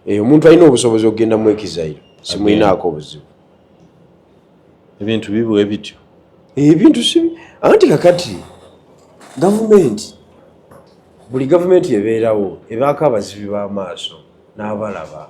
eyo omuntu alina obusobozi okugenda mu ekizairo simulinaako obuzibu ebintu bibuwe bityo ebintu si anti kakati gavumenti buli gavumenti ebeerawo ebaako abazibi b'amaaso n'abalaba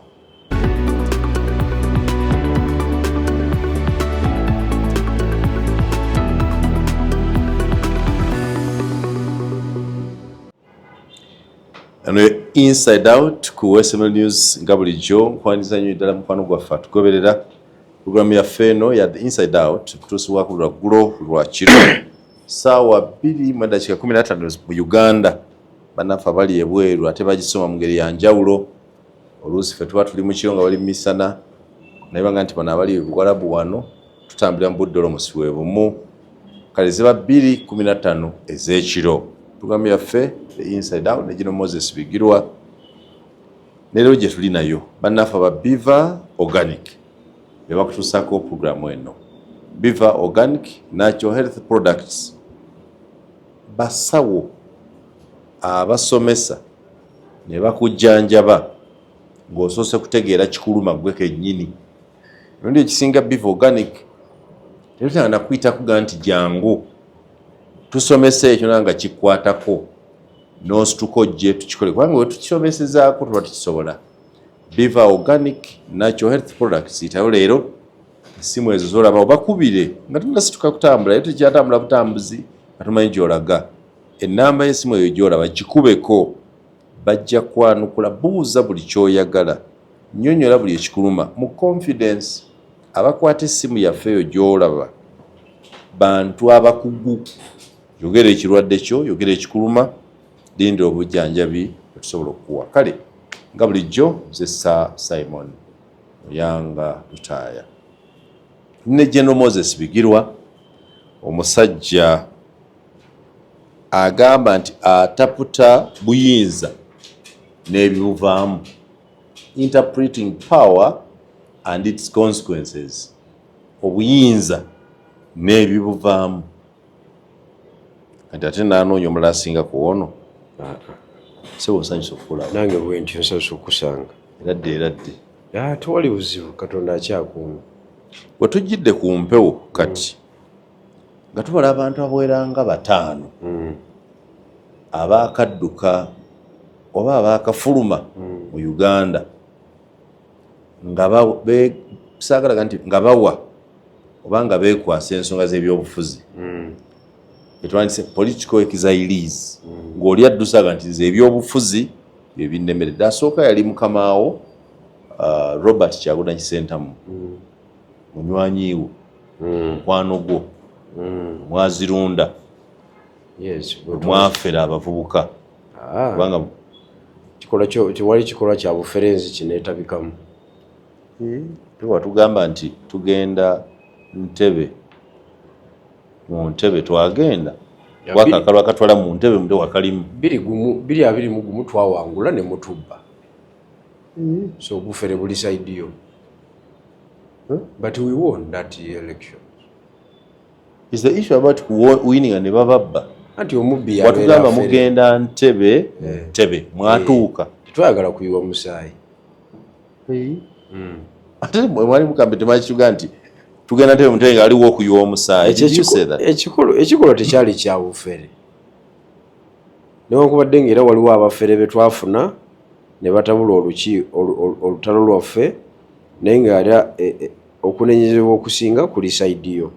Ano inside out ku SML News nga bulijjo nkwaniriza nnyo ddala mukwano gwaffe atugoberera pulogulaamu yaffe eno ya the inside out kutuusibwako lwa ggulo lwa kiro saawa bbiri mu eddakiika kumi na ttaano mu Uganda bannaffe abali ebweru ate bagisoma mu ngeri ya njawulo oluusi fe tuba tuli mukiro nga bali mumisana naye banga nti bano abali buwalabu wano tutambulira mu budde olomusi we bumu kale ziba bbiri kumi na ttaano ez'ekiro pulogulaamu yaffe inside out negino moses bigirwa nerero gye tuli nayo bannaffe aba biva organic be bakutuusaako pulogulaamu eno biva organic natural health products basawo abasomesa ne bakujjanjaba ng'osoose kutegeera kikuluma ggwe kennyini emirundi ekisinga biva organic tebitanga nakuyitakuga nti jangu tusomesa ekyo nanga kikwatako nosituka ojje tukikole kubanga wetukisomesezaako tuba tukisobola biva organic natural health products itayo leero esimu ezo zolaba obakubire nga tunasituka kutambula ye tukyatambula butambuzi nga tumanyi gyolaga Ennamba y'essimu eyo gy'olaba gikubeko. Bajja kwanukula. Buuza buli ky'oyagala. Nnyonnyola buli ekikuluma mu confidence. Abakwata essimu yaffe eyo gy'olaba bantu abakugu. Yogera ekirwadde kyo, yogera ekikuluma, lindira obujjanjabi bwe tusobola okukuwa. Kale nga bulijjo, nze Sir Simon Muyanga Lutaaya. Ndi ne General Moses Bigirwa, omusajja. agamba nti ataputa buyinza n'ebibuvaamu, interpreting power and its consequences, obuyinza n'ebibuvaamu, kati ate nanoonya omulala asinga kuwono sebo nsanyusa okukulaba nange bwentyo nsanyusa okukusanga eradde eradde ah, tewali buzibu katonda akyakuuma wetujjidde ku mpewo kati mm. nga tubala abantu abawera nga bataano hmm. abaakadduka oba abaakafuluma hmm. mu uganda nga saagalaga nti nga bawa oba nga beekwasa ensonga z'ebyobufuzi hmm. etwandise political exilees ng'oli addusaga nti nze ebyobufuzi bye binnemere dasooka yali mukamaawo uh, robert kyagulanyi sentamu munywanyi wo hmm. mukwano gwo hmm. mwazirunda mwafera abavubuka ah. kubanga tewali kikolwa kya bufere nzi kinetabikamu tuba tugamba nti tugenda ntebe mu ntebe twagenda wakakalo akatwala mu ntebe mute wakalimu biri abiri mugumu twawangula ne mutubba so obufere buli saidiyo Huh? But we won that election. Is the issue about winning and bababba? Anti omubbi ya batugamba mugenda ntebe eh. ntebe mwatuuka. Eh. Twagala kuyiwa musaayi. Eh. Mm. Ate mwali mukambe temanyi kiga nti tugenda ntebe mutenge aliwo okuyiwa omusaayi. Ekikulu ekikulu tekyali kya bufere. Newankubadde nga era waliwo abafere be twafuna ne batabula oluki, olu, olu, olutalo lwaffe, naye nga era e, e, okunenyezebwa okusinga kuli sayidi yo.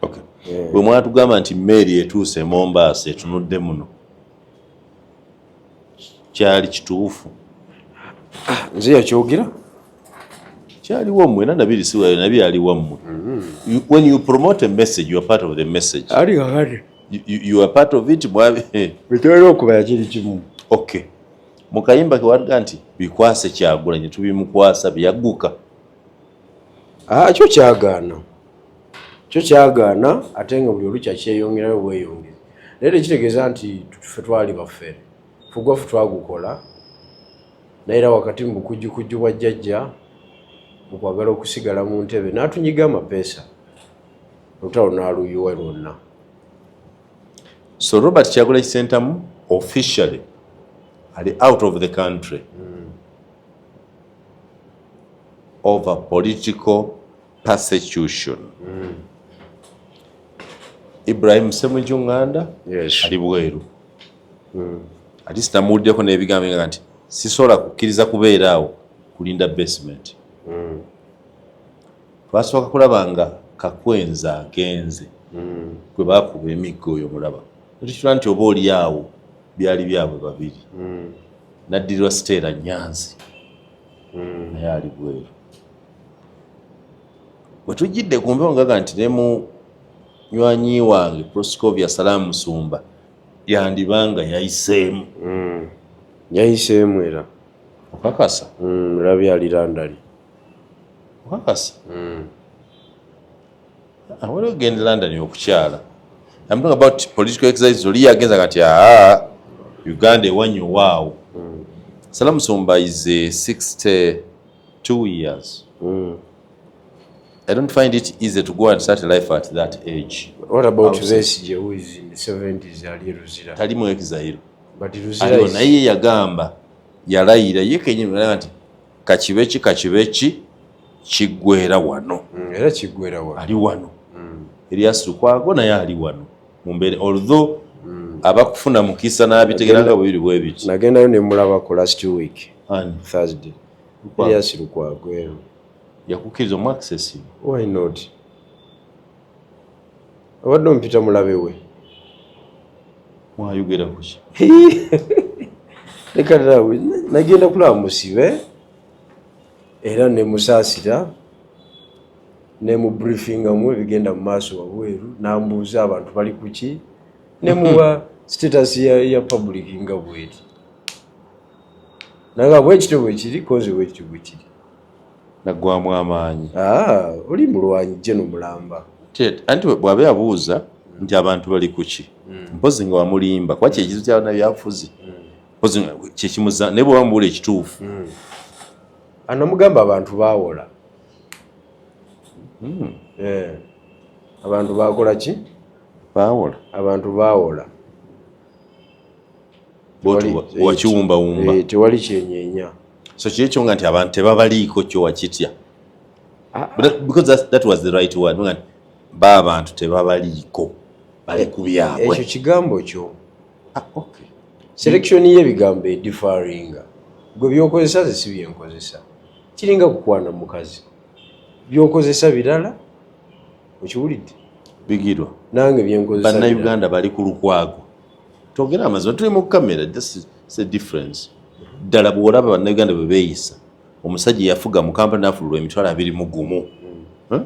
Okay. Yeah. Bwe mwatugamba nti mmeeri etuuse e Mombaasa etunudde muno, kyali kituufu ah, nze yakyogera kyali wammwe era nabiri si wayo nabi ali wammwe mm-hmm. when you promote a message you are part of the message ali kakati you are part of it mwabe bitwera okuba yakiri kimu okay mukayimba kewaga nti bikwase kyagulanyi tubimukwasa byagguka ah, kyo kyagaana kyo kyagaana ate nga buli olukya kyeyongerayo bweyongezi naye tekitegeeza nti fe twali baffere fugwafu twagukola naye era wakati mu bukujjukujju bwa jjajja mu kwagala okusigala mu ntebe n'atunyiga amapeesa olutalo n'aluyuwa lwonna so robert kyagula kisentamu officially ali out of the country mm. over political persecution mm. Ibrahim Semuju Nganda yes. ali bweru mm. ati sinamuwuliddeko n'ebigambo nga nti sisobola kukkiriza kubeera awo kulinda basement mm. twasooka kulaba nga kakwenza agenze mm. kwe bakuba emigga oyo mulaba netukitula nti oba oli awo byali byabwe babiri mm. naddirirwa siteera nyanzi mm. naye ali bweru bwe tujjidde ku mpewo ngaga nti ne mu nywanyi wange proscovia salaamu musumba yandiba nga yayiseemu hmm. yayiseemu era okakasa hmm, labi alirandali okakasa hmm. awera ah, ogenda london okukyala am talking about political exercise oli yagenza kati aa ah, uganda ewanyo waawo salamusumba is a 60 two years mm. I don't find it easy to go and start life at that age. What about Besigye who is in the 70s ali Luzira? Tali mu exile. But Luzira is... naye yagamba yalayira ye kenyini naye nti kakibe ki kakibe ki kiggwera wano. Mm, era kiggwera wano. Ali wano. Mm. Elias Lukwago naye ali wano. mumbeera although mm. abakufuna mukisa n'abitegera nga bwebiri bwebiti nagendayo nemulabako last week Ani? thursday elias lukwagwero yakukkiriza omu access why not abadde ompita mulabe we mwayogera kuki leka nawe nagenda kulaba musibe era ne musaasira ne mu briefingamu ebigenda mu maaso wabweru nambuuza abantu bali kuki ne muwa status ya, ya public nga bweri nanga bwekityo bwekiri koze bwekityo bwekiri naggwamu amaanyi ah, oli mulwanyi je nomulamba anti bwabe abuuza nti abantu bali kuki hmm. mpozi nga wamulimba kuba kyekizo kyabana byafuzi hmm. kyekimuza naye bweba mubuula ekituufu hmm. anamugamba abantu bawola hmm. eh. abantu bakola ki bawola abantu bawola wakiwumbawumba eh, tewali kyenyenya so kiri ekyo nga nti abantu tebabaliiko kyo wakitya ah, ah. because that, that was the right word ba abantu tebabaliiko bali ku byabwe ekyo kigambo kyo ah, okay. selection yebigambo edifaringa gwe byokozesa ze si byenkozesa kiringa kukwana mukazi byokozesa birala okiwulidde bigirwa nange byenkozesa bannayuganda bali ku lukwago togera amazima tuli mu kamera just say difference ddala bwolaba bannayuganda bwe beeyisa omusajja yafuga mu kampala nafululwa emitwalo abiri mu gumu hmm.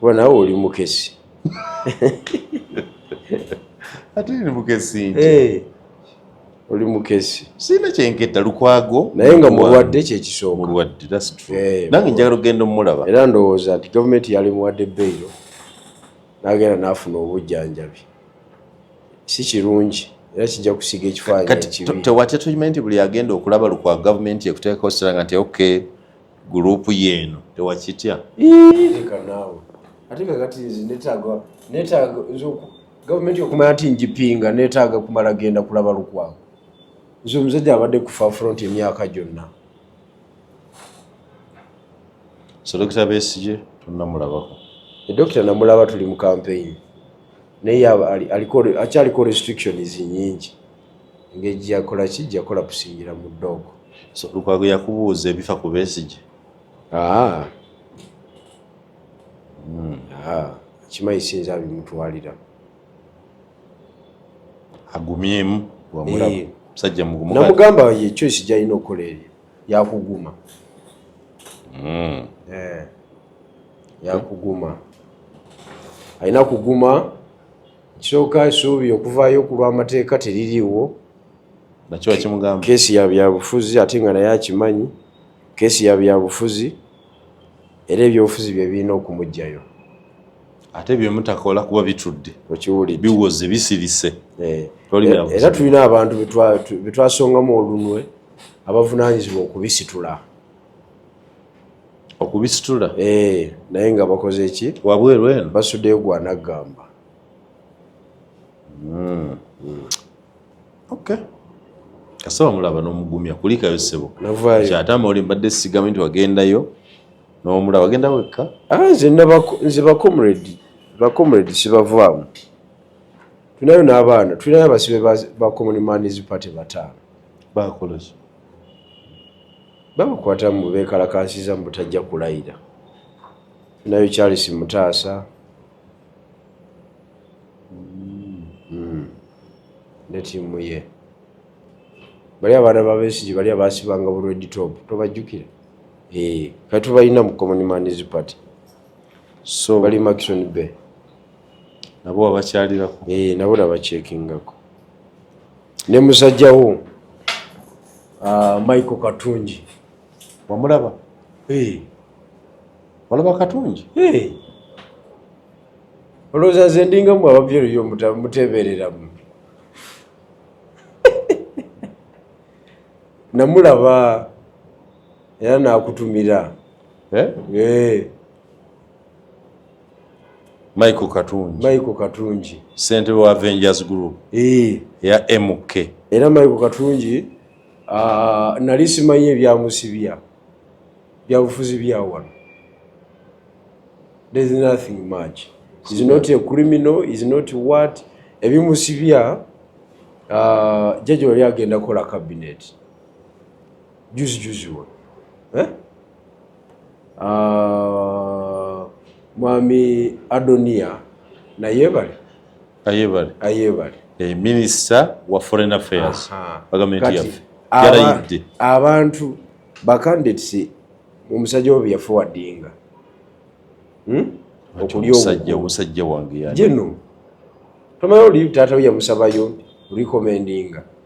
kuba nawe oli mukesi ate ni mukesi nti eh, oli mukesi sina kyenketta lukwago naye nga mulwadde kyekisooka mulwadde that's true eh, nange njagala okugenda omulaba era ndowooza nti gavumenti yali muwadde beyiro nagenda nafuna obujjanjabi si kirungi era kijja kusiga ekifaananyi tewatya tukimanyi nti buli agenda okulaba lukwa gavumenti ekuteekako siranga nti okay group yeno tewakitya leka naawe ate kakati nze netaaga netaaga nze oku- gavumenti okumanya nti njipinga netaaga kumala genda kulaba lukwago nze omusajja abadde ku fafront emyaka gyonna selekita besigye tonamulabako edokita namulaba tuli mu kampeyini naye aba- ali- aliko- akyaliko restrictions nyingi engeri gyeyakola ki gyeyakola kusingira mu dog so lukwago yakubuuza ebifa ku besigye ah. hmm. ah. kimanyi sinza abimutwalira agumyemu eh. musajja namugamba ye choice gyalina okukola eryo yakuguma hmm. eh. yakuguma alina kuguma Kyoka esuubi okuvaayo ku lw'amateeka teririiwo. Nakiwa kimugamba. Keesi ya byabufuzi ate nga naye akimanyi. Keesi ya byabufuzi era ebyobufuzi bye birina okumuggyayo. Ate bye mutakola kuba bitudde. Okiwulidde. Biwoze bisirise. Eh. Era tulina abantu betwasongamu olunwe abavunaanyizibwa okubisitula. okubisitula eh, naye nga bakoze eki wabweru eno basudeyo gwanagamba hmm. hmm. okay kasaba mulaba nomugumya kulikayo sebo kyatama oli mbadde sigambe nti wagendayo nomulaba wagenda wekka ah, nze bacomredi bacomredi sibavaamu tulinayo n'abaana tulinayo abasibe ba common mans party bataano bakolaki babakwata mu bekalakaasiza mu butajja kulayira nayo charles mutaasa hmm. ne tiimu ye bali abaana babesigi bali abasibanga bureditop tobajjukira eh, kati tubalina mu common mans party so bali maxon bay nabo wabakyalirako eh, nabo nabakyekingako ne musajja wo uh, Michael Katungi wamulaba hey. walaba Katungi hey. olowooza nze ndinga mu ababyereyo muteebereramu namulaba era nakutumira eh? hey. Michael Katungi. Michael Katungi. Sente wa Avengers Group. Ee. Ya MK. Era Michael Katungi uh, nali simanyi ebyamusibya byabufuzi bya wano. There is nothing much. He's not a criminal, he's not what. Ebimusibya uh, jaji wali agenda kola cabinet. Juzi juzi wa. Eh? Ah, mwami adonia nayebale ayebale ayebale eh, minister wa foreign affairs bagamenti yaffe yarayidde abantu bacandidates omusajja obi yafe wadinga hmm? okulya omusajja wange jeno tomayo oli taata we yamusabayo recommendinga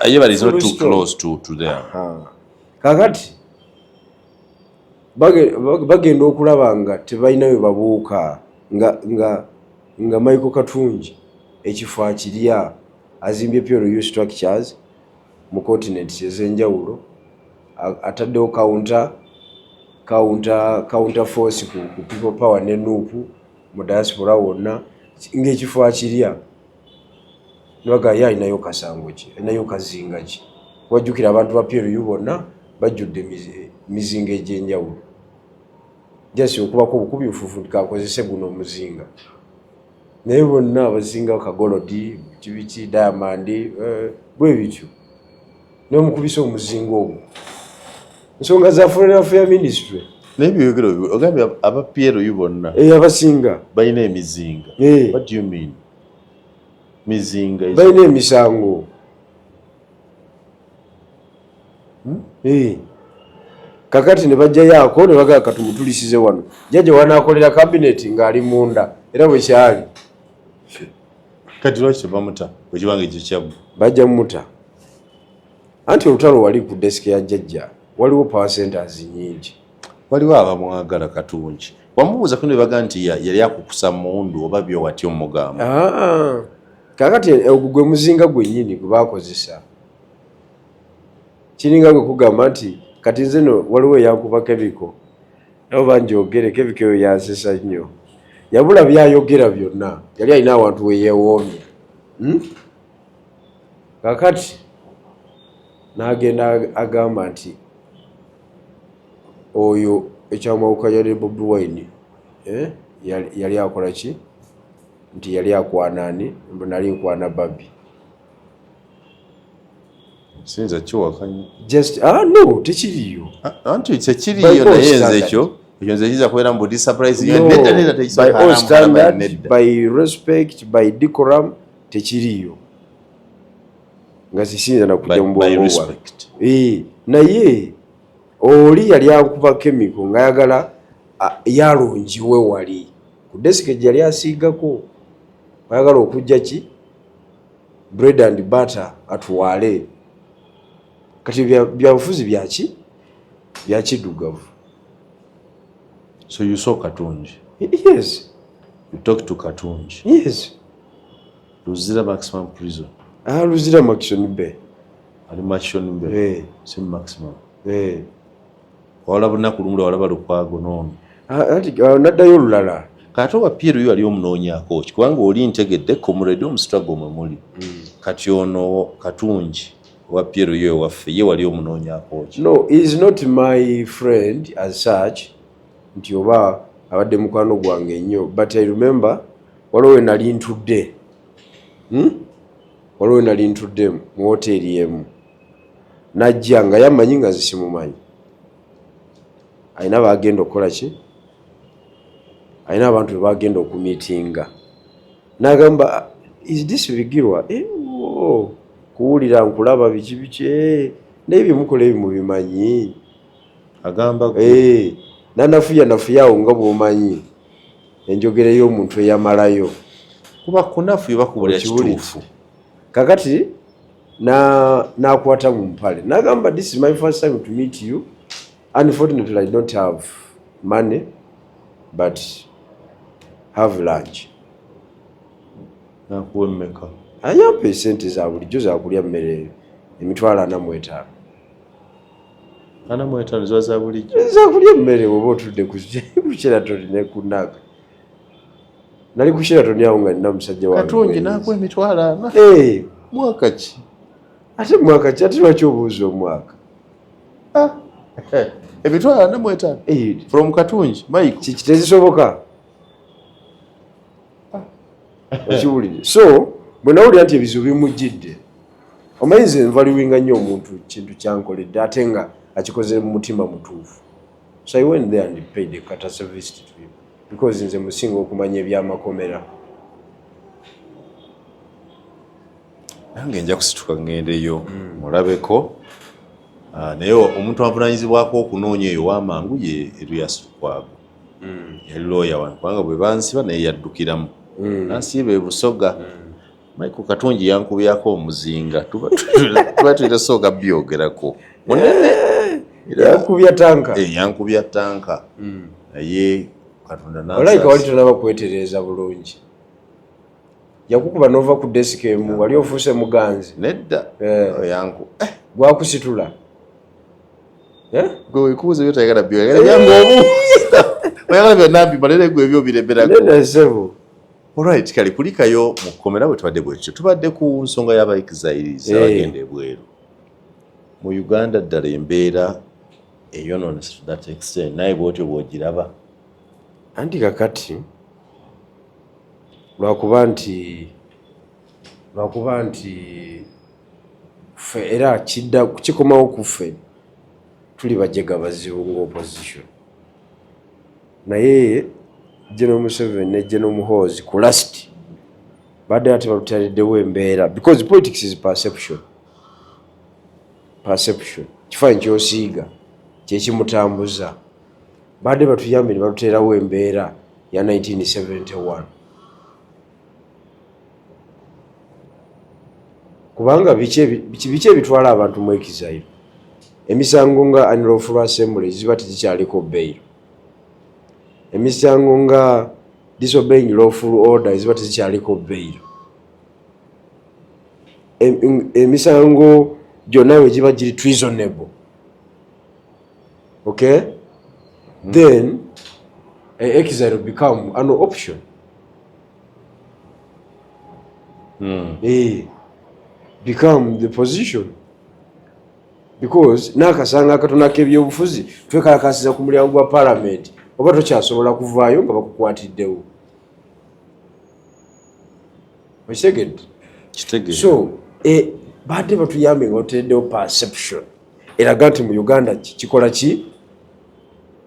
Ayebara is not too close to, to there. Kakati bagenda okulaba nga tebalina we babuuka nga, nga, nga Michael Katungi ekifo akirya azimbye PRU structures mu continents ez'enjawulo ataddewo counter counter counter force ku, ku people power ne nuupu mu diaspora wonna ng'ekifo akirya nebaga ye alinayo kasango ki alinayo kazinga ki wajjukira abantu ba plu bonna bajjudde mizinga egyenjawulo jasi okubako obukubi nfufu kakozese guno omuzinga naye bonna abazinga kagolodi kibiki diamandi eh, bwebityo nomukubisa omuzinga ogwo nsonga za foreign affair ministry naye byoyogera ogambye aba plu bonna eh, abasinga balina emizinga eh. what do you mean mizinga balina emisango hmm? eh. kakati ne bajjayo ako ne bagaa katumutulisize wano jajja wanakolera kabineeti ng'ali munda era bwekyali kati lwaki tebamuta bwekiba nga ekyo kyabbu bajja mumuta anti olutalo wali ku desike ya jjajja waliwo power centers nyingi waliwo abamwagala katungi wamubuuza kuno bebaga nti yali akukusa mundu oba byo wati omugamba ah, kakati eh, ogwo gwe muzinga gwenyini gwe bakozesa kiringa gwe kugamba nti kati nze no waliwo eyankuba kebiko nabo banjogere kevika eyo yansesa nnyo yabula byayogera byonna yali alina awantu weyewoomye hmm? kakati nagenda agamba nti oyo ekyamawuka yali bobi wine eh? yali akola ki nti yali akwanani mbu nali nkwana babi sinza kiwakanya just ah no tekiriyo ah, ah, anti tekiriyo naye nze ekyo ekyo nze kiza kubeera mu budi surprise yo nedda nedda tekisobola by respect by decorum tekiriyo nga sisinza nakujja mu bwongo bwa eh naye oli yali akuba kemiko nga yagala yalungiwe wali ku desike gyeyali asiigako ayagala okujja ki bread and butter atwale kati byabufuzi byaki byakidugavu so you saw katungi yes you talk to katungi yes luzira maximum prison ah luzira maximum be ali maximum be hey. Eh. si maximum hey. Eh. wawala bunaku lumu lwewalaba lukwago noono uh, naddayo olulala kati oba pierre oyo wali omunoonyako ki kubanga oli ntegedde comrade omustrago mwe muli hmm. kati ono katungi owa pierre oyo ewaffe ye wali omunoonyako ki no is not my friend as such nti oba abadde mukwano gwange nnyo but i remember waliwo we nali ntudde hmm? waliwo we nali ntudde mu woteeri emu najja nga yamanyi nga zisimumanyi alina bagenda okukola ki alina abantu bebagenda okumitinga nagamba is this bigirwa eh, oh, kuwulira nkulaba biki biki eh, naye byemukola ebi mubimanyi agamba eh, nanafuya nafuyawo nga bwomanyi enjogera y'omuntu eyamalayo kuba kunafu ebakubulira kituufu kakati nakwata na mu mpale nagamba this is my first time to meet you unfortunately i don't have money but have lunch nakuwa emmeka ayampa esente za bulijjo zakulya mmere emitwalo anamwetaano anamwetaano ziba za bulijjo zakulya emmere oba otudde kukyera tolina kunaka nali ku Sheraton awo nga nina musajja wange katungi nakuwa emitwalo ana eh. mwaka ki ate mwaka ki ate lwaki obuuza omwaka ah. eh, emitwalo ana mu etaano eh. from katungi mike kiki tezisoboka ah. okiwulire so bwe nawulira nti ebizibu bimujjidde omanyi nze nvaliwinga nnyo omuntu kintu kyankoledde ate nga akikoze mu mutima mutuufu so i went there and paid a courtesy visit to him because nze musinga okumanya ebyamakomera nange nja kusituka ngendeyo hmm. mulabeko ah, naye omuntu avunanyizibwako okunoonya eyo wamangu ye eruyasukwago hmm. yali looya wange kubanga bwe bansiba naye yaddukiramu hmm. nansiiba ebusoga Michael Katungi yankubyako omuzinga tuba tulina sooka byogerako munene yankubya tanka eh, yankubya tanka hmm. naye katonda nalaika wali tonaba kwetereeza bulungi yakukuba nova ku desika emu wali ofuuse muganzi nedda eh. yanku eh. gwakusitula gwe wekuuza byotayagala byoyagala byangu omu oyagala byonna mbimalere gwe ebyo obiremerako nedda sebo Alright, kale kulikayo mu kkomera bwe tubadde bwekityo tubadde ku nsonga y'abaexiles eh. abagenda ebweru mu Uganda ddala embeera eyonoonese to that extent naye bwotyo bwogiraba anti kakati lwakuba nti lwakuba nti ffe era kidda kikomawo ku ffe tuli bajega bazibu nga opposition naye General Museveni ne General Muhoozi ku last badde ate balutalidewo embeera because politics is perception perception kifaanyi kyosiiga kyekimutambuza badde batuyambye ne baluteerawo embeera ya 1971 kubanga biki ebitwala abantu mu ekizairo emisango nga anloful assembly ziba tegikyaliko bail emisango nga disobeying lawful order eziba tezikyaliko bail emisango gyonna we giba giri treasonable okay then exile become an option mm. e, become the position because nakasanga akatona kebyobufuzi twekalakasiza ku mulyango gwa palamenti oba tokyasobola kuvaayo nga bakukwatiddewo okitegedde so eh, baadde batuyambe nga otereddewo perception eraga nti mu uganda kikola ki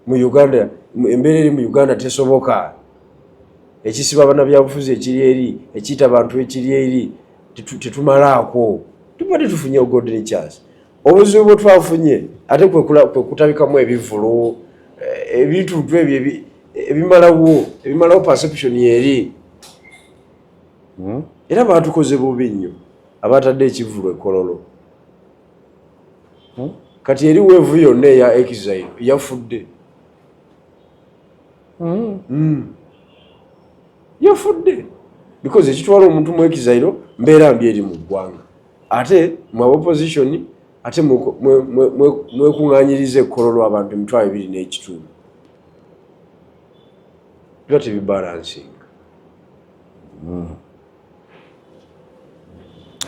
mu uganda embeera eri mu uganda tesoboka ekisiba banabyabufuzi ekiri eri ekiita bantu ekiri eri tetumalaako tuba tetufunye ogodini chance obuzibu bwetwafunye ate kwekutabikamu ebivulu eh, ebintu ntu ebyo ebimalawo ebimalawo perception eri hmm? era batukoze bubi nnyo abatadde ekivulu ekololo hmm? kati eri weevu yonna eya exile yafudde hmm. yafudde because ekitwala omuntu mu exile mbeera mbi eri mu ggwanga ate mu abaopposition ate mwekuŋanyiriza ekkololo abantu emitwalo ebiri n'ekitundu biba tebibalansinga hmm.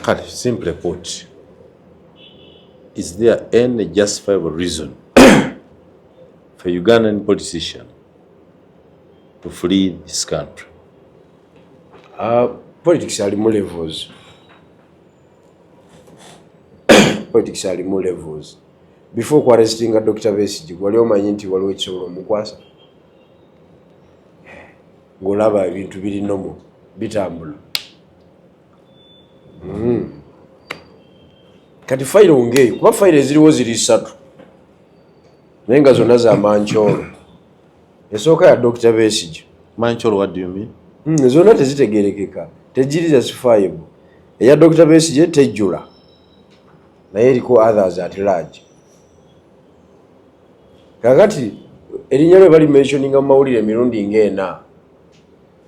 kale simple put is there any justifiable reason For Ugandan politician to flee this country. Uh, politics are more levels. politics are more levels. Before kwa arresting a Dr. Vesiji, wali omanyi nti waliwo ekisobola omukwasa. Ngolaba ebintu biri nomo bitambula. Mm. Kati file ongeyo kuba file ziriwo ziri satu. naye nga zonna za mancoolo esooka ya dokita besigye mancoolo what do you mean hmm, zonna tezitegerekeka tejiri justifiable eya dokita besigye tejjula naye eriko others at large kakati erinnya lwe bali mentioninga mu mawulire emirundi ngaena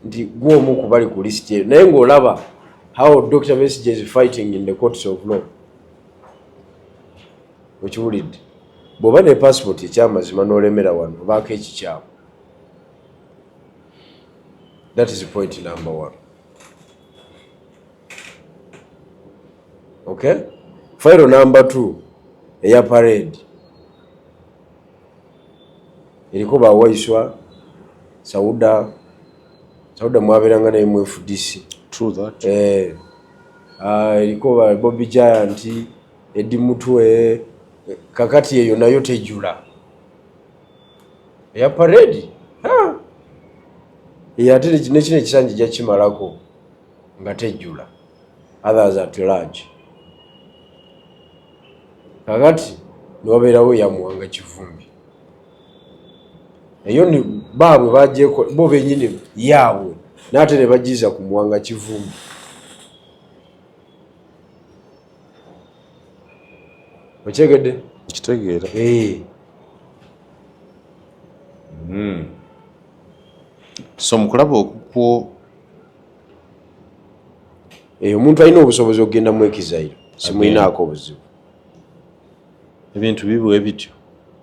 nti gwomu kubali ku list eyo naye ngaolaba how dr besigye is fighting in the courts of law okiwulidde Bwoba ne passport ekyamazima nolemera wano obaako ekikyamu. That is point number one. Okay? File number two eya parade eriko bawaiswa sauda sauda mwaberanga naye mu fdc eh, ah, eriko ba bobi giant Eddy Mutwe kakati eyo nayo tejula eya paredi eyo ate nekino ekisanja ejja kimalako nga tejula others at large kakati newabeerawo eyamuwanga kivumbi eyo ni baabwe bajeko bo benyini yaabwe naate nebajiza ku muwanga kivumbi okyegedde kitegeera eh. hmm. so mukulaba okukwo eyo eh, omuntu alina obusobozi okugenda mu ekizairo simulinaako obuzibu ebintu bibu ebityo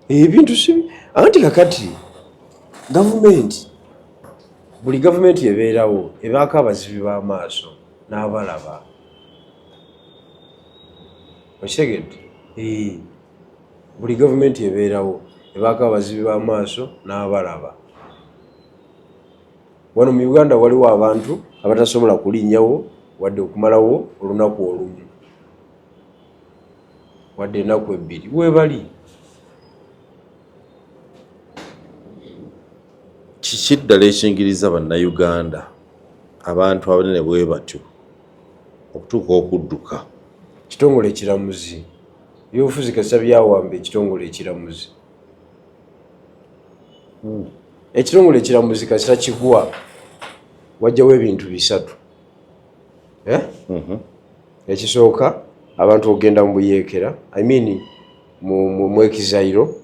eh, ebintu si anti kakati gavumenti buli gavumenti ebeerawo ebaako abazibi b'amaaso n'abalaba okitegedde buli gavumenti ebeerawo ebaako abazibi b'amaaso n'abalaba wano mu uganda waliwo abantu abatasobola kulinnyawo wadde okumalawo olunaku olumu wadde enaku ebbiri webali kiki ddala ekingiriza bannayuganda abantu abanene bwe batyo okutuuka okudduka. Ekitongole ekiramuzi byobufuzi kasita byawamba ekitongole ekiramuzi ekitongole ekiramuzi kasita kigwa wajjawo ebintu bisatu eh? mhm. ekisooka abantu okugenda mu buyeekera i mean mwekizayiro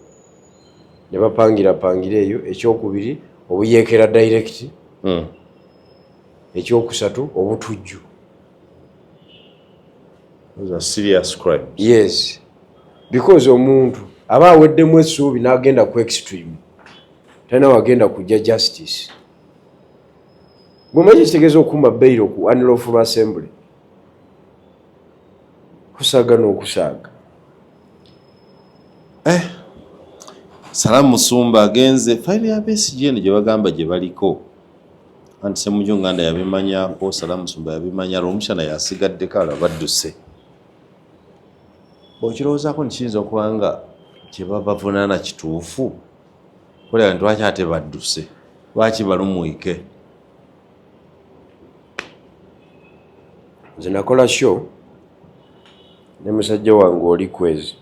ne bapangirapangira eyo ekyokubiri obuyeekera direct mm. ekyokusatu obutujju yes because omuntu aba aweddemu essuubi n'agenda ku extreme talina wagenda kujja justice gwemanyi kitegeeza okuma bairo ku anloful assembly kusaaga n'okusaaga eh. salamu musumba agenze fayiro ya besigye eno gye bagamba gye baliko anti semuju nganda yabimanya nkosala musumba yabimanya lwomushana yasigaddeko alo badduse okirowoozako nti kiyinza okuba nga kyebabavunaana kituufu kulaba nti lwaki ate badduse lwaki balumwike nze nakola sho ne musajja wange oli kwezi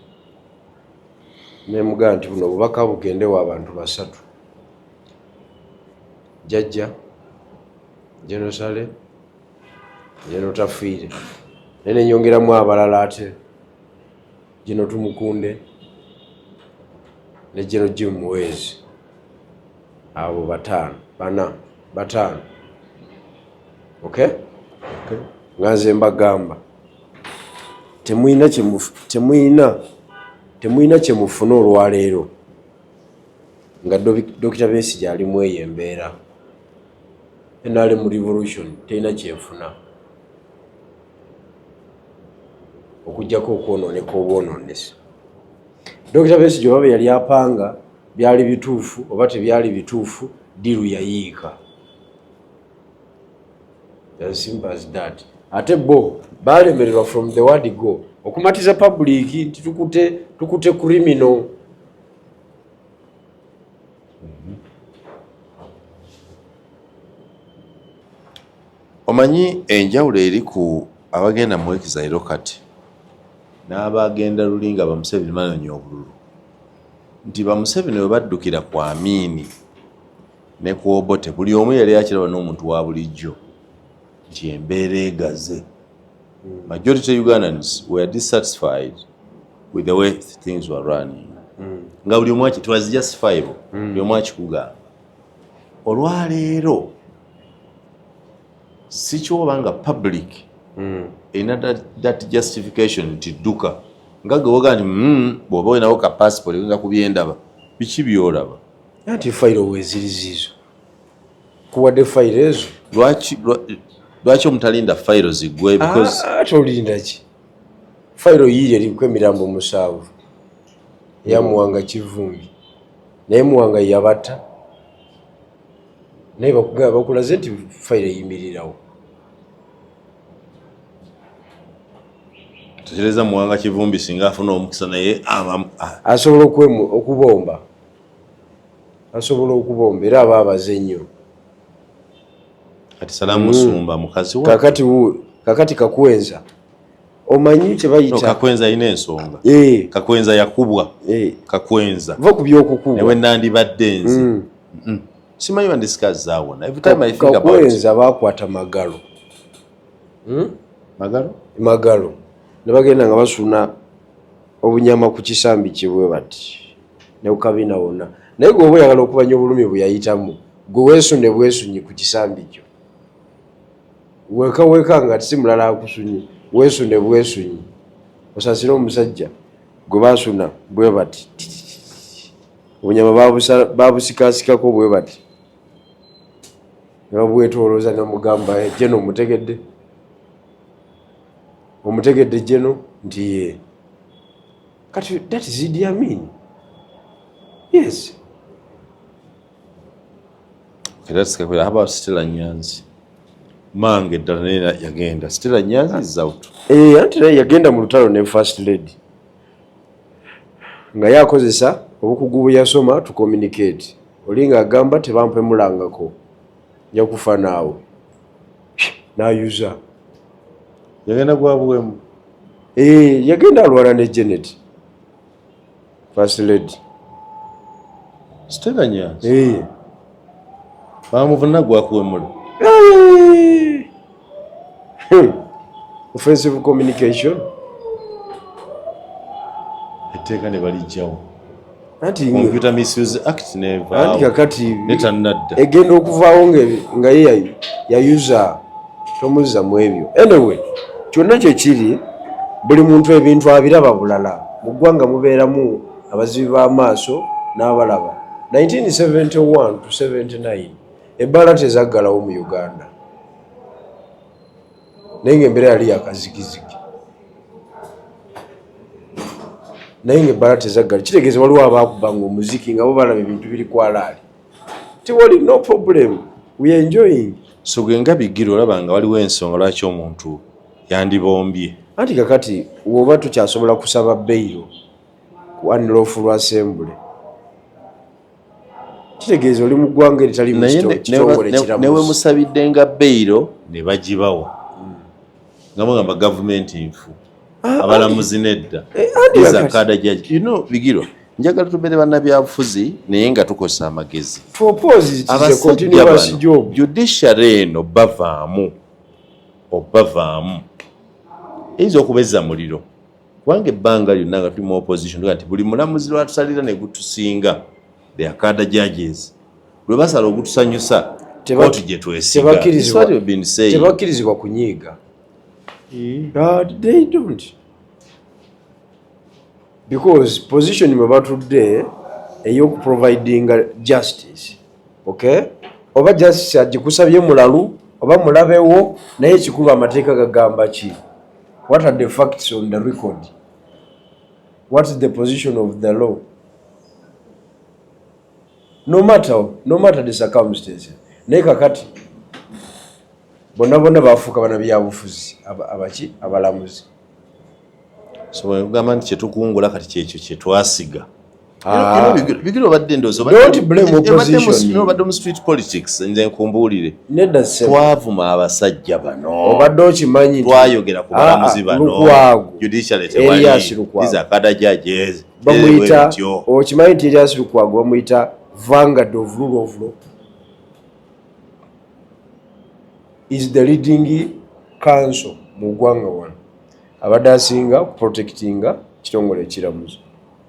nemugaa nti buno obubaka bugende wa bantu basatu jajja jenosale jeno tafiire naye nenyongeramu abalala ate jeno tumukunde ne jeno jim muwezi abo bataano bana bataano ok nga nze mbagamba temulina temulina temulina kyemufuna olwaleero Nga Dokita Besigye ali mweyo embeera, nrm revolution terina kyefuna okujjako okwononeka obwononesi. Dokita Besigye oba byeyali apanga byali bituufu oba tebyali bituufu, ddiiru yayiika. Ate bo baalemererwa from the word go okumatiza public nti tukute criminal. omanyi enjawulo eri ku abagenda mu ekizayiro kati n'abagenda luli nga bamuseveni banonya obululu nti bamuseveni we baddukira ku amiini ne ku obote buli omu yali akiraba n'omuntu wa bulijjo nti embeera egaze majority ugandans were dissatisfied with the way things were running mm. nga buli omwaki twas just five mm. buli omwaki kugamba olwaleero sikyoba nga public mm. erina that, that justification nti dduka nga gewoga nti mm, bwoba olinawo ka passport oyinza kubyendaba biki byolaba nti fairo wezirizizo kuwadde fayiro ezo lwaki lwaki omutalinda fayiro zigwe ah, tolindaki fayiro yiiri eriku emirambo musanvu yamuwanga kivumbi naye muwanga yabata naye bakugamba bakulaze nti fayiro eyimirirawo tekereza muwanga kivumbi singa afuna omukisa naye asobola okubomba asobola okubomba era aba abaze nnyo kati salamu hmm. sumba mukazi wa kakati wu kakati kakwenza omanyi kye bayita no, kakwenza ina ensonga eh kakwenza yakubwa eh kakwenza va kubyo okukubwa ewe nandi badde nzi mm. mm. simanyi bandi sikazi zawo na every time Ka, i think kakwenza about kakwenza bakwata magalo hmm? magalo magalo ne bagenda nga basuna obunyama ku kisambi kibwe bati ne kukabina wonna naye gwe oba oyagala okumanya obulumi bwe yayitamu gwe weesunde bwesunyi ku kisambi kyo weka weka nga si mulala akusunyi weesunde bwesunyi osasire omusajja gwe basuna bwe bati obunyama babusikasikako bwe bati nebabwetolooza namugamba eh, jeno omutegedde omutegedde jeno nti yee kati that is Idi Amin yes kirasikakira haba sitila nyanzi mange ddala naye yagenda sitila nyanzi is out eh anti naye yagenda mu lutalo ne first lady nga yakozesa obukugu bwe yasoma to communicate olinga agamba tebampemulangako nja kufa naawe nayuza yagenda gwabuwemu eh, yagenda alwala ne janet first lady siteganya eh. bamuvuna gwakuwemula eh. Hmm. offensive communication etteeka ne balijjawo kakatinetanadda egenda okuvaawo nga ye yayuza tomuzza mu ebyo anyway kyonna kyekiri buli muntu ebintu abiraba bulala mu ggwanga mubeeramu abazibi b'amaaso n'abalaba 1971 to 79 Ebbaala tezaggalawo mu Uganda naye ng'embeera yali yakazigizigi naye ng'ebbaala tezaggala kitegeeza waliwo abaakuba nga omuziki nga bo balaba ebintu biri kwalaali tiwali no problem we enjoying so gwe nga bigira olaba nga waliwo ensonga lwaki omuntu yandibombye anti kakati woba tukyasobola kusaba beyiro ku anlofulwa asembule kitegeeza oli mu ggwanga eritali mukitongole kiramu newe musabidde nga beyiro ne bagibawa hmm. nga mugamba gavumenti nfu ah, abalamuzi ah, nedda eh, ah, iza kada jaji you know bigirwa njagala tubeere bannabyabufuzi naye nga tukozesa amagezi abasajja bano judiciary eno bavaamu obavaamu eyinza okubezza muliro kubanga ebbanga lyonna nga tuli mu opposition tuga nti buli mulamuzi lwatusalira ne gutusinga the akada judges lwe basala ogutusanyusa kooti gye twesigatebakirizibwa kunyiiga hmm. because position mwe batudde eyokuprovidinga justice okay oba justice agikusabye mulalu oba mulabewo naye ekikulu amateeka gagamba ki What are the facts on the record? What is the position of the law? No matter, no matter the circumstances. Naye kakati bonna bonna baafuuka bana byabufuzi abaki abalamuzi so wegamba nti kyetukungula kati kyekyo kyetwasiga Ah. bigiri obadde ndoziobadde mu street politics nze nkumbuulire twavuma abasajja banoobadde okimanyi twayogera ku balamuzi ah, ah, banoakadajajeokimanyi nti erias lukwago bamuyita vangard of rule of law is the leading council mu ggwanga wano abadde asinga kuprotectinga kitongole ekiramuzi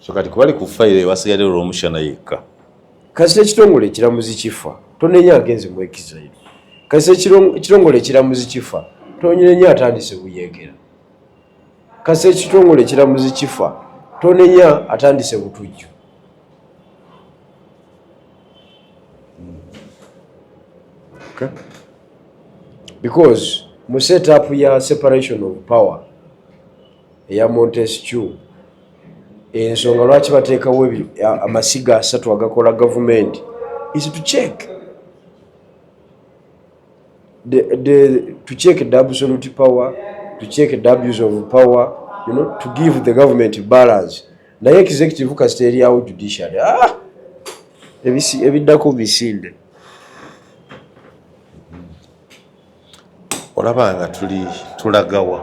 so kati kubali ku fayiro ewasigade olwomushana yekka kasita ekitongole ekiramuzi kifa tonenya agenze mu exile kasita ekitongole ekiramuzi kifa tonenya atandise buyekera kasita ekitongole ekiramuzi kifa tonenya atandise butujju because mu set up ya separation of power eya montescu ensonga lwaki bateekawo amasiga asatu agakola gavumenti is to check the, the, to check the absolute power to check the abuse of power you know, to give the government balance naye executive kasita eryawo judiciary ah! ebiddako misinde olaba nga tuli tulagawa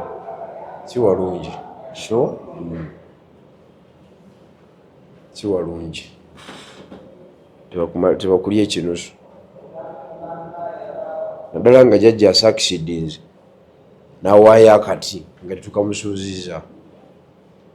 kiwalungi sure mm. kiwalungi tebakulya ekinusu naddala nga jajja asakisidinze nawaayo akati nga tetukamusuuziza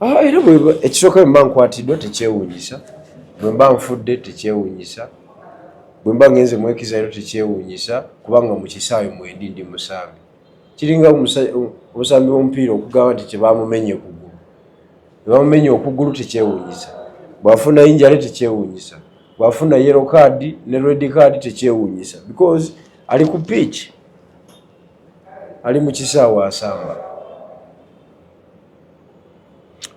Ah, era ekisooka bwe mba nkwatiddwa tekyewuunyisa bwe mba nfudde tekyewuunyisa bwe mba ngenze mwekiza era tekyewuunyisa kubanga mu kisaayo mwendi ndi musambi kiringa obusambi bw'omupiira okugamba nti kyebamumenye okugulu ebamumenye okugulu tekyewuunyisa bw'afuna injale tekyewuunyisa bw'afuna yero kaadi ne redi kaadi tekyewuunyisa because ali ku piiki ali mu kisaawo asamba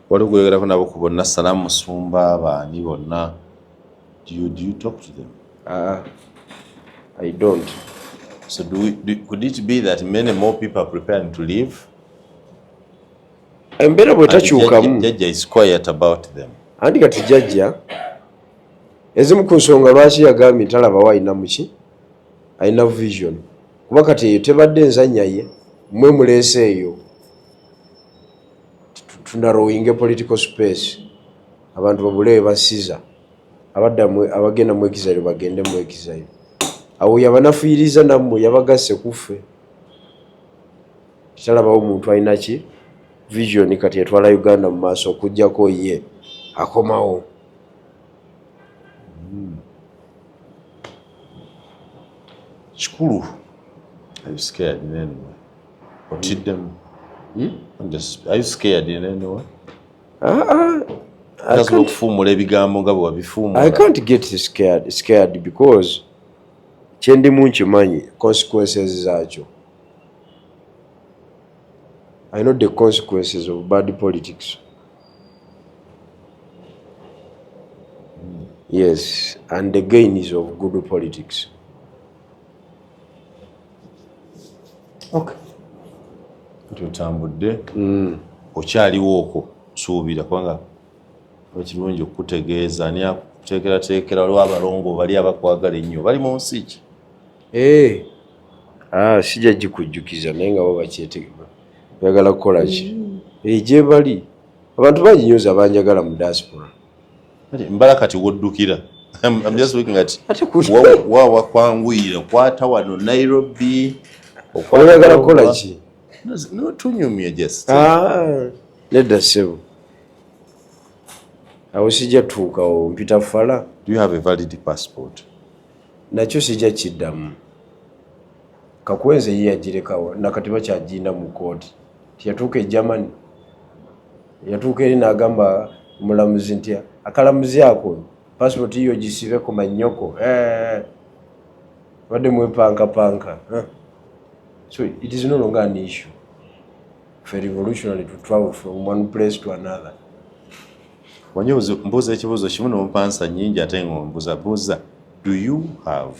waliwo gweyogerako nabo ku bonna salamu musumba baani bonna do you, do you talk to them uh, i don't so do we, do, could it be that many more people are preparing to leave embeera bwetakyukamu jajja is quiet about them andi kati jajja ezimu ku nsonga lwaki yagambye talabawo alina muki alina vision kuba kati eyo tebadde enzannya ye mwe muleese eyo tunarowinge political space abantu babule basiza abadda abagenda mu exile bagende mu exile awo yabanafuyiriza nammwe yabagasse kuffe kitalabawo omuntu alina ki vision kati etwala uganda mu maaso okujjako ye akomawo hmm. kikulu I'm scared, man. otiddemu hmm? tasobola okufuumula ebigambo nga bwe wabifuumula kyendimu nkimanyi consequences zaakyo I know the consequences of bad politics. Yes, and the gain is of good politics. okay. kati otambudde mm. okyaliwo okwo suubira kubanga ekirungi okukutegeeza ani akuteekerateekera waliwo abalongo bali abakwagala ennyo bali mu nsi ki eh. ah, sijja gikujjukiza naye nga bo bakyetegeba oyagala kukola ki mm. eh, gyebali abantu bangi nyoza banjagala mu diaspora mbala kati woddukira wawa kwanguyira kwata wano nairobi oyagala kukola ki notunyumye just ah, nedda sebo awo sijja tuukawo mpita fala you have a valid passport nakyo sijja kiddamu kakwenze ye yagirekawo nakati bakyagina mu kooti tiyatuuka e germany Yatuuka eri n'agamba omulamuzi nti akalamuzi ako paasipooti yiyo gisibe ku mannyoko obadde mwepankapanka so it is no longer an issue for revolutionary to travel from one place to another wanyo mbuuza ekibuuzo kimu nomupansa nyingi ate ngombuza buuza do you have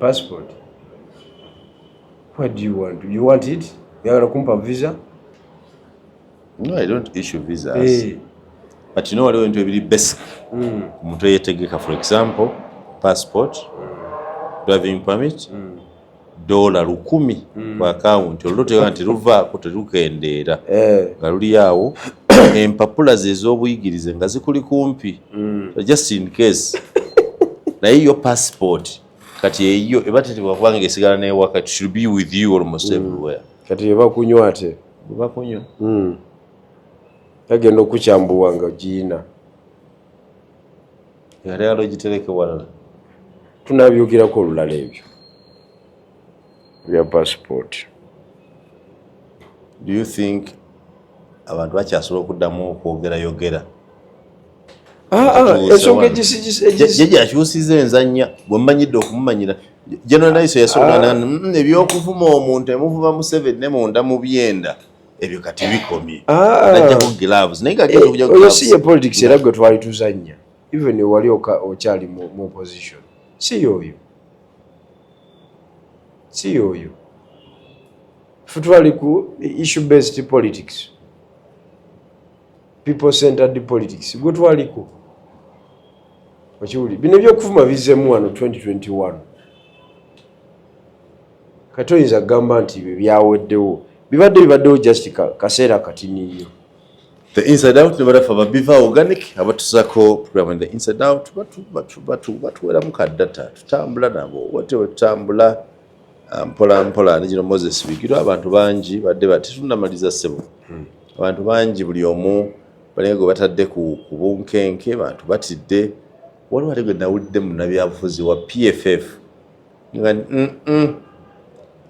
passport what do you want you want it yagala kumpa visa no i don't issue visas hey. Eh. but you know waliwo ebintu ebiri basic mm. omuntu mm. eyetegeka for example passport mm. driving permit mm. dola lukumi mm. ku akawunti olwo tega nti luvaako terukendeera eh. nga luli awo empapula ze ez'obuyigirize nga zikuli kumpi mm. so just in case naye yo passport kati eyo eba tetebwa kubanga esigala naye wakati should be with you almost mm. everywhere kati eba kunywa ate eba kunywa mm. agenda okukyambuwa nga giina yali alogitereke walala tunabyogirako olulala ebyo for your passport do you think abantu bakyasobola okuddamu okwogera yogera ah, ah, ensonga egyakyusiza enzanya bwemumanyidde okumumanyira generaliso yasobola ah. mm, ebyokuvuma omuntu emuvuma museveni ne munda mu byenda ebyo kati bikomye najjako gloves naye kagenda eh, okuja oyo si ye politics era gwe twali tuzanya even wali okyali mu opposition si yoyo si yoyo futwali ku issue based politics people centered politics gwe twaliko okiwuli bino byokuvuma bizemu wano 2021 kati oyinza kugamba nti bye byaweddewo bibadde bibaddewo just kaseera katini nnyo the inside out ne barafa ba biva organic abatusako program in the inside out batu batu batu batu wera muka data tutambula nabo wote wetambula ah, mpola mpola nijino Moses bigiro abantu bangi badde bati tunamaliza sebo hmm. abantu bangi buli omu balengo batadde ku kubunkenke abantu batidde waliwo ategwe nawulidde munabyabufuzi wa PFF nga mm, mm.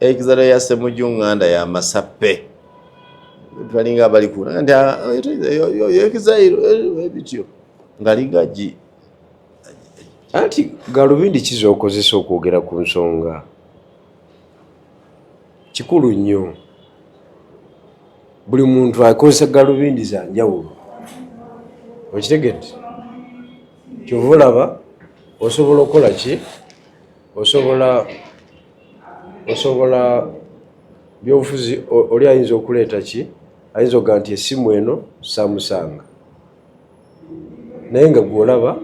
ekizalo ya semuju nganda ya masape balinga bali ku nti ah, ekizairo eh, ebityo eh, ngalinga gi anti galubindi kiza okozesa okwogera ku nsonga kikulu nnyo buli muntu akozesa galubindi za njawulo okitegedde kyova olaba osobola okukola ki osobola osobola byobufuzi oli ayinza okuleeta ki ayinza okuga nti esimu eno samusanga naye nga gwolaba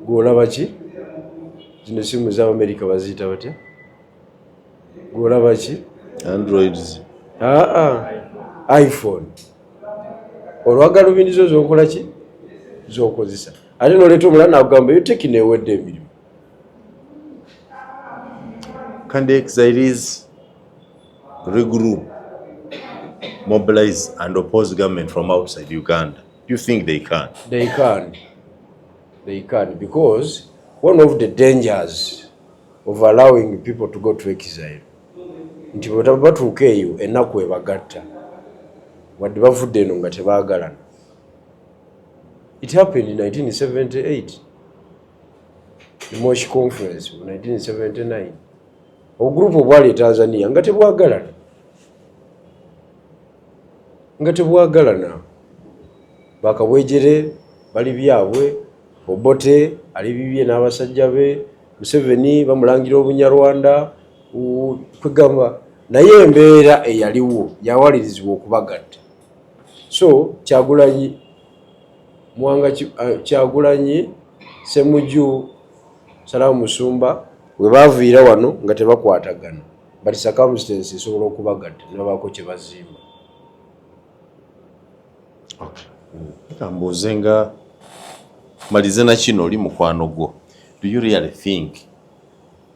gwolaba ki zino esimu za amerika baziyita batya gwolaba ki androids aa iphone olwagalubindi zo zokola ki zokozesa ate noleeta omulala nakugamba eyo teki newedde emirimu can the exiles regroup, mobilize, and oppose government from outside Uganda? Do you think they can? They can. They can because one of the dangers of allowing people to go to exile nti bwebatuuka eyo ennaku ebagatta wadde bavudde eno nga tebaagalana It happened in 1978, the Moshi Conference of 1979. Obugrupu obwali e Tanzania nga tebwagalana nga tebwagalana bakabwejere bali byabwe obote ali bibye n'abasajja be museveni bamulangira obunyarwanda kwegamba naye embeera eyaliwo yawalirizibwa okubagatta so kyagulanyi mwanga uh, kyagulanyi semuju salamu musumba webaviira wano nga tebakwatagana but circumstance esobola okubagata nebabaako kyebazimba kambuuze nga malize nakino oli mukwano gwo do you really think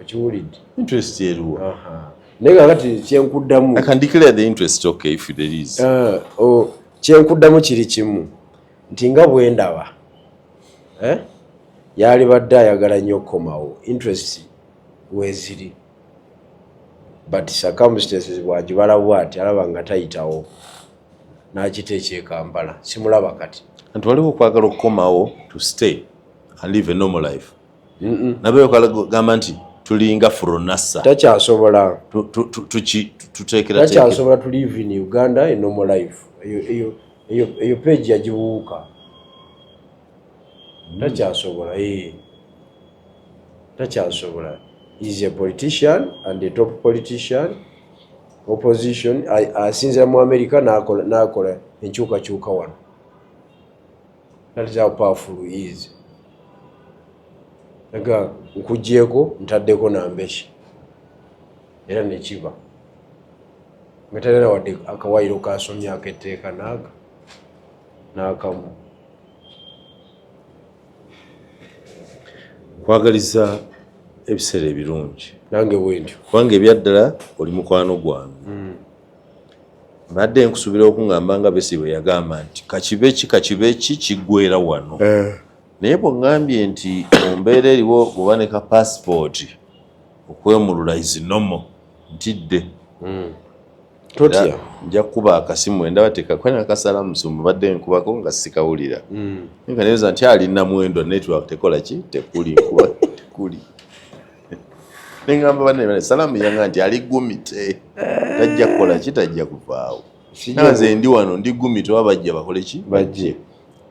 okiwulidde interest eriwo naye nga kati kyenkuddamu ah, oh, kyenkuddamu kiri kimu nti nga bwe ndaba eh, yaali badde ayagala nnyo okukomawo interest weziri but circumstances bwagibala bwati alaba nga tayitawo n'akita ekyekampala simulaba kati nti waliwo okwagala okukomawo to stay and live a normal life nabeyoka gamba nti tulinga furonasa takyasobola tutekeratakyasobola to live in uganda a normal life eyo page yagibuuka hmm. takyasobola eh. takyasobola is a politician and a top politician opposition asinzira mu america nakola enkyukakyuka wano That is how powerful he is. Aga nkugyeko ntaddeko nambeshi era nekiba nga talina wadde akawayiro kasomye aketteeka naaga n'akamu kwagaliza ebiseera ebirungi nange bwentyo kubanga ebyaddala oli mukwano gwange mm. mbadde nkusubira okungamba nga besi bwe yagamba nti kakibe ki kakibe ki kiggwera wano eh. naye bwengambye nti ombeera eriwo oba ne ka pasipooti okwemulula izinomo ntidde hmm. totya nja kukuba akasimu endaba tekakwena kasala musumba badde nkubako nga sikawulira hmm. nga neweza nti ali namwendo network tekola ki tekuli nkuba tekuli neŋamba banne salaamu yanga nti ali gumite tajja kukola ki tajja kuvaawo nanze ndi wano ndi gumite oba bajja bakole ki bajje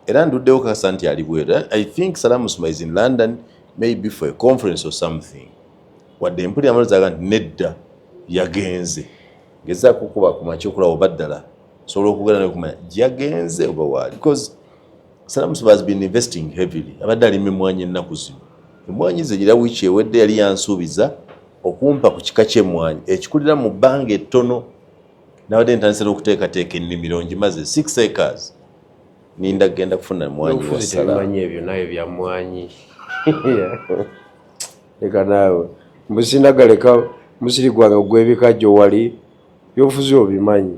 era nduddewo kasa nti ali bweru i think salaamu suma is in london maybe for a conference or something wadde mpulira amalozaga nti nedda yagenze ngezaako okuba kumakyokulaba oba ddala osobola okugera nekumanya yagenze oba waali Salamu Siba has been investing heavily. Abadde alima emmwanyi ennaku zino. Emmwanyi ze gira wiiki ewedde yali yansuubiza okumpa ku kika ky'emmwanyi ekikulira mu bbanga ettono. Nabadde ntandise n'okuteekateeka ennimiro ngimaze six acres. Ninda kugenda kufuna emmwanyi wa Salamu. ebyo naye bya mmwanyi. Leka naawe. Mbusindagaleka musiri gwange ogw'ebikajjo wali byobufuzi obimanyi.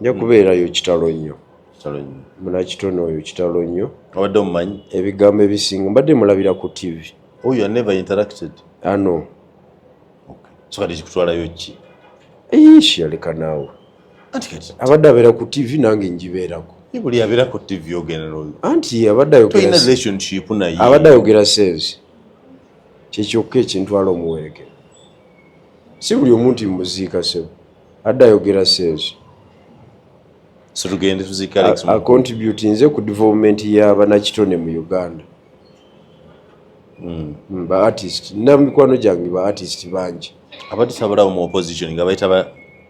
nja kubeerayo kitalo nnyo munakitone oyo kitalo nnyo abadde omumanyi ebigambo ebisinga mbadde mulabira ku tv oh, you are never interacted ano ah, okay. so kati kikutwalayo ki ish yaleka naawe abadde abeera ku tv nange njibeerako buli abeera ku tv ogenda noyo anti abadde ayogera relationship naye abadde ayogera sense kyekyokka ekintwala omuwerekera si buli omuntu muziika sebo adda ayogera sales so tugende tuzika Alex Mukulu contribute nze ku development ya banakitone mu Uganda mm. mm ba artist na mikwano jangi ba artist banji abati sabara mu opposition nga baita ba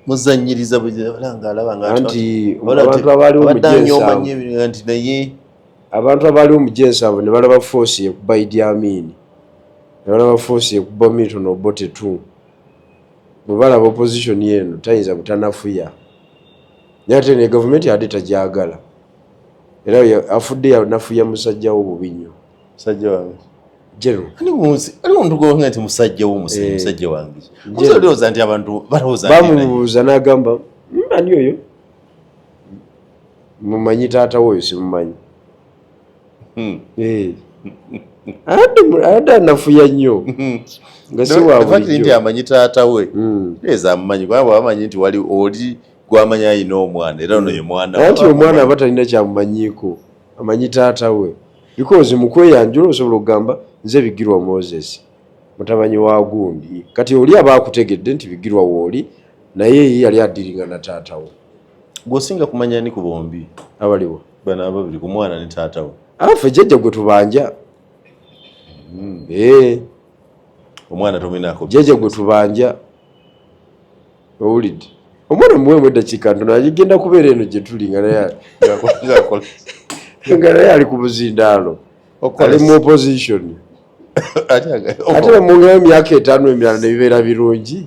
muzanyiriza bulanga alaba nga anti abantu abali mu jensa anti naye abantu abali mu jensa abo ne balaba force ya kubaidi amini ne balaba force ya kubamito no bote 2 Bwebalaba opposition eno tayinza butanafuya naye ate ne gavumenti abadde tajagala era afudde yanafuya musajja wo bubinyo musajja wange general ani munsi ali omuntu gwe nti musajja wo musajja eh. musajja wange musajja doza nti abantu baloza bamubuza nagamba hmm, ani oyo mumanyi taata wo simumanyi ate anafuya nnyo nga siwabulijjonti amanyi taata we hmm. eza amumanyi kubanga bwabamanyi nti wali oli gwamanyi alina omwana era ono ye hmm. mwana anti omwana aba talina kyamumanyiiko amanyi taata we because mukweyanjula osobola okugamba nze bigirwa moses mutamanyi wa gundi kati oli aba akutegedde nti bigirwa wooli naye yali adiringa na taata we gwosinga kumanya ni ku bombi abaliwo bana ababiri ku mwana ne taata we afe ah, jjajja gwe tubanja hmm. eh. omwana tomenako jjajja gwe tubanja owulidde omwana muwemu eddakiika ntono agigenda kubeera eno gye tuli nga naye nga naye ali ku buzindaalo ali mu opposition ate mu myaka etaano emirala ne bibeera birungi